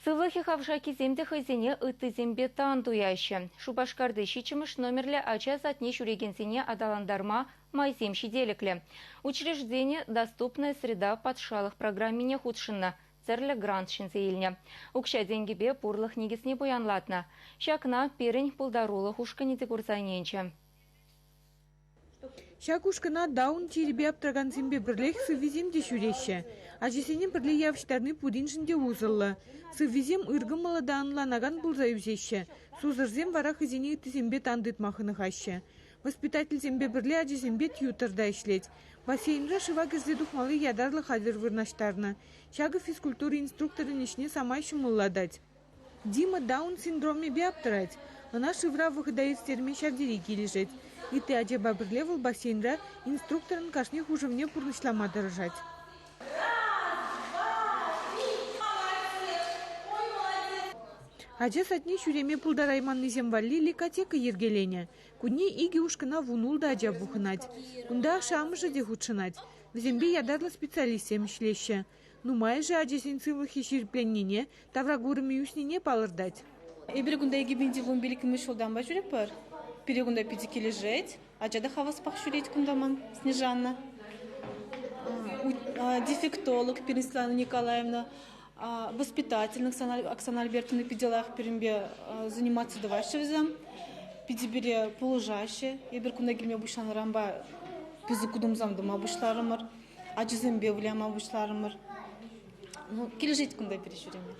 Сывлӑхӗ хавшаккисем те хӑйсене ыттисемпе тан туяҫҫӗ. Шупашкарти ҫиччӗмӗш номерлӗ ача садне ҫӳрекенсене аталантарма майсем ҫителӗклӗ. Учреждение «Доступная среда» патшалӑх программине хутшӑннӑ тӗрлӗ грант ҫӗнсе илнӗ. Укҫа-тенкӗпе пурлӑх никӗсне пуянлатнӑ. Ҫакна пирӗн пултарулӑх ушкӑнӗ те курса ӗненчӗ. Ҫак ушкӑна Даун чирӗпе аптӑракансемпе пӗрлех сыввисем те ҫӳреҫҫӗ. Ачасене пӗрле явӑҫтарни пуриншӗн те усӑллӑ. Сыввисем ыркӑмӑллӑ та ӑнланакан пулса ӳсеҫҫӗ. Сусӑрсем вара хӑйсене ыттисемпе тан тытма хӑнӑхаҫҫӗ. Воспитательсемпе пӗрле ачасемпе тьютор та ӗҫлет. Бассейнра шыва кӗрсе тухмалли ятарлӑ хатӗр вырнаҫтарнӑ. Ҫакӑ физкультура инструкторӗн ӗҫне самай ҫӑмӑллатать. Дима Даун синдромӗпе аптӑрать, ӑна шывра вӑхӑта ӳстерме ҫав тери килӗшет. Ытти ачапа пӗрле вӑл бассейнра инструкторӑн кашни хушӑвне пурнӑҫлама тӑрӑшать. Ача садне ҫӳреме пултарайманнисем валли ликотека йӗркеленӗ. Кунне икӗ ушкӑна вунултӑ ача пухӑнать. Кунта ашшӗ-амӑшӗ те хутшӑнать. Вӗсемпе ятарлӑ специалистсем ӗҫлеҫҫӗ. Нумайӑшӗ ачасен сывлӑхӗ ҫирӗпленнине, тавра курӑмӗ ӳснине палӑртать. Эпир кунта икӗ пин тивлӑн пилӗкмӗш ҫултанпа ҫӳретпӗр. Пире кунта питӗ килӗшет. Ача та хаваспах ҫӳрет кунта ман Снежана. Дефектолог пирӗн Светлана Николаевна воспитательник Оксана Альбертовна питӗ лайӑх пирӗнпе заниматься тӑваҫҫӗ вӗсем. Питӗ пире пулӑшаҫҫӗ. Эпир кунта килме пуҫланӑранпа пысӑк утӑмсем тума пуҫларӑмӑр. ачасемпе выляма пуҫларӑмӑр. Ну, килӗшет кунта пире ҫӳреме.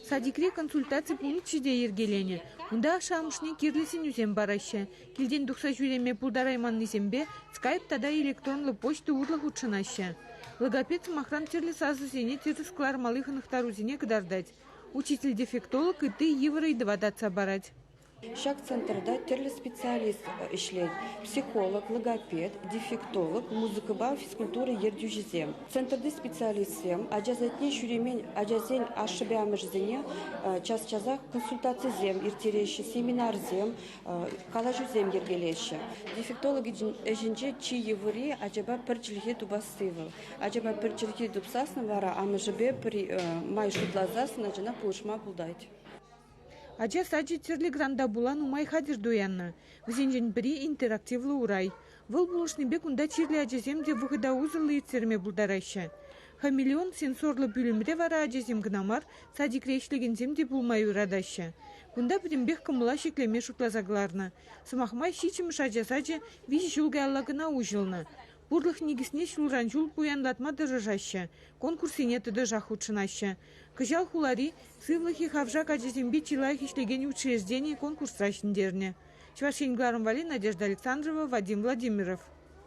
Садикре консультаци пункчӗ те йӗркеленӗ. Унта ашшӗ-амӑшне кирлӗ сӗнӳсем параҫҫӗ. Килтен тухса ҫӳреме пултарайманнисемпе скайп тата электронлӑ почта урлӑ хутшӑнаҫҫӗ. Логопед сӑмахран тӗрлӗ сасӑсене тӗрӗс кӑлармалли хӑнӑхтарусене кӑтартать. Учитель-дефектолог ытти йывӑр ыйтӑва татса парать. Ҫак центрта тӗрлӗ специалист ӗҫлет: психолог, логопед, дефектолог, музыкӑпа физкультура ертӳҫисем. Центрти специалистсем ачасене ҫӳремен ачасен ашшӗпе-амӑшӗсене час-часах консультацисем ирттереҫҫӗ, семинарсем, калаҫусем йӗркелеҫҫӗ. Дефектолог ӗҫӗнче чи йывӑри ачапа пӗр чӗлхе тупасси вӑл. Ачапа пӗр чӗлхе тупсассӑн вара амӑшӗпе май шутласассӑн ачана пулӑшма пултать. Ача сачӗ тӗрлӗ гранта пула нумай хатӗр туяннӑ. Вӗсенчен пӗри – интерактивлӑ урай. Вӑл пулӑшнипе кунта чирлӗ ачасем те вӑхӑта усӑллӑ ирттерме пултараҫҫӗ. Хамелеон сенсорлӑ пӳлӗмре вара ачасем кӑна мар, садикре ӗҫлекенсем те пулма юратаҫҫӗ. Кунта пӗтӗмпех кӑмӑла ҫӗклеме шутласа кӑларнӑ. Сӑмах май, ҫиччӗмӗш ача сачӗ виҫӗ ҫул каялла кӑна уҫӑлнӑ. Пурлӑх никӗсне ҫулран ҫул пуянлатма тӑрӑшаҫҫӗ, конкурссене тӑтӑшах хутшӑнаҫҫӗ. Кӑҫал хулари Сывлӑхи хавшак ачасемпе чи лайӑх ӗҫлекен учреждени конкурсра ҫӗнтернӗ. Чӑваш Ен кӑларӑм валли Надежда Александрова, Вадим Владимиров.